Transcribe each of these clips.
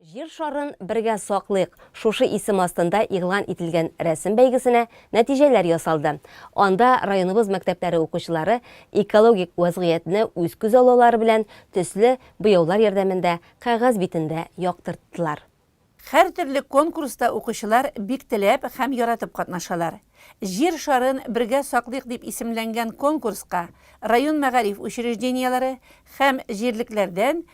Җир шарын бергә саклыйк! Шушы исем астында игълан ителгән рәсем бәйгесенә нәтиҗәләр ясалды. Анда районыбыз мәктәпләре укучылары экологик вәзгыятьне үз күзаллаулары белән төсле буяулар ярдәмендә кәгазь битендә яктырттылар. Һәртөрле конкурста укучылар бик теләп һәм яратып катнашалар. Җир шарын бергә саклыйк дип исемләнгән конкурска район мәгариф учреждениеләре һәм җирлекләрдән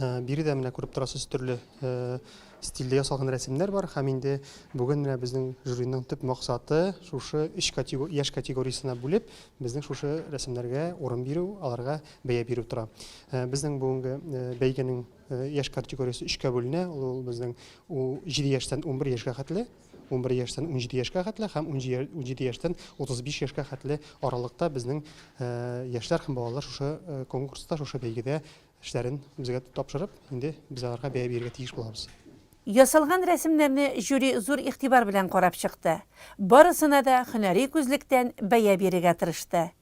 Э, биредә менә күреп торасыз төрле э, стильдә ясалган рәсемнәр бар һәм инде бүген менә безнең жюриның төп максаты шушы өч категор яшь категориясенә бүлеп безнең шушы рәсемнәргә урын бирү аларга бәя бирү тора э, безнең бүгенге бәйгенең яшь категориясе өчкә бүленә ул безнең җиде яшьтән унбер яшьгә хәтле Унбер яшьтән унҗиде яшькә хәтле һәм унҗиде яшьтән утыз биш яшькә хәтле аралыкта безнең яшьләр һәм балалар шушы конкурста, шушы бәйгедә эшләрен безгә тапшырып, инде без аларга бәя бирергә тиеш булабыз. Ясалган рәсемнәрне жюри зур игътибар белән карап чыкты. Барысына да һөнәри күзлектән бәя бирергә тырышты.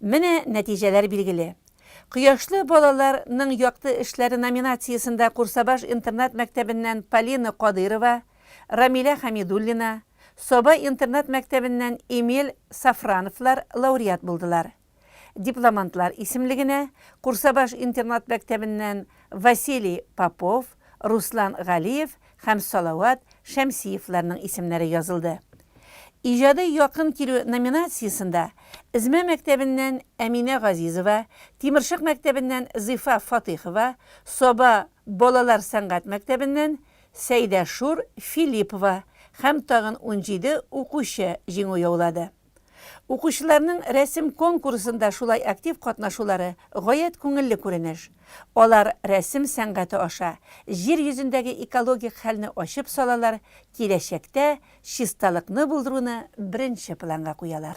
Менә нәтиҗәләр билгеле. Кояшлы балалар ның якты эшләре номинациясендә Курсабаш интернат-мәктәбеннән Полина Кадыйрова, Рамилә Хәмидуллина, Саба интернат-мәктәбеннән Эмиль Сафрановлар лауреат булдылар. Дипломантлар исемлегенә Курсабаш интернат-мәктәбеннән Василий Попов, Руслан Галиев һәм Салават Шәмсиевларның исемнәре язылды. Иҗади якын килү номинациясендә Эзмә мәктәбеннән Әминә Газизова, Тимершык мәктәбеннән Зифа Фатыйхова, Саба балалар сәнгать мәктәбеннән Сәйдәшур Филиппова һәм тагын унҗиде укучы җиңү яулады. Укучыларның рәсем конкурсында шулай актив катнашулары гаять күңелле күренеш. Алар рәсем сәнгате аша Җир йөзендәге экологик хәлне ачып салалар, киләчәктә чисталыкны булдыруны беренче планга куялар.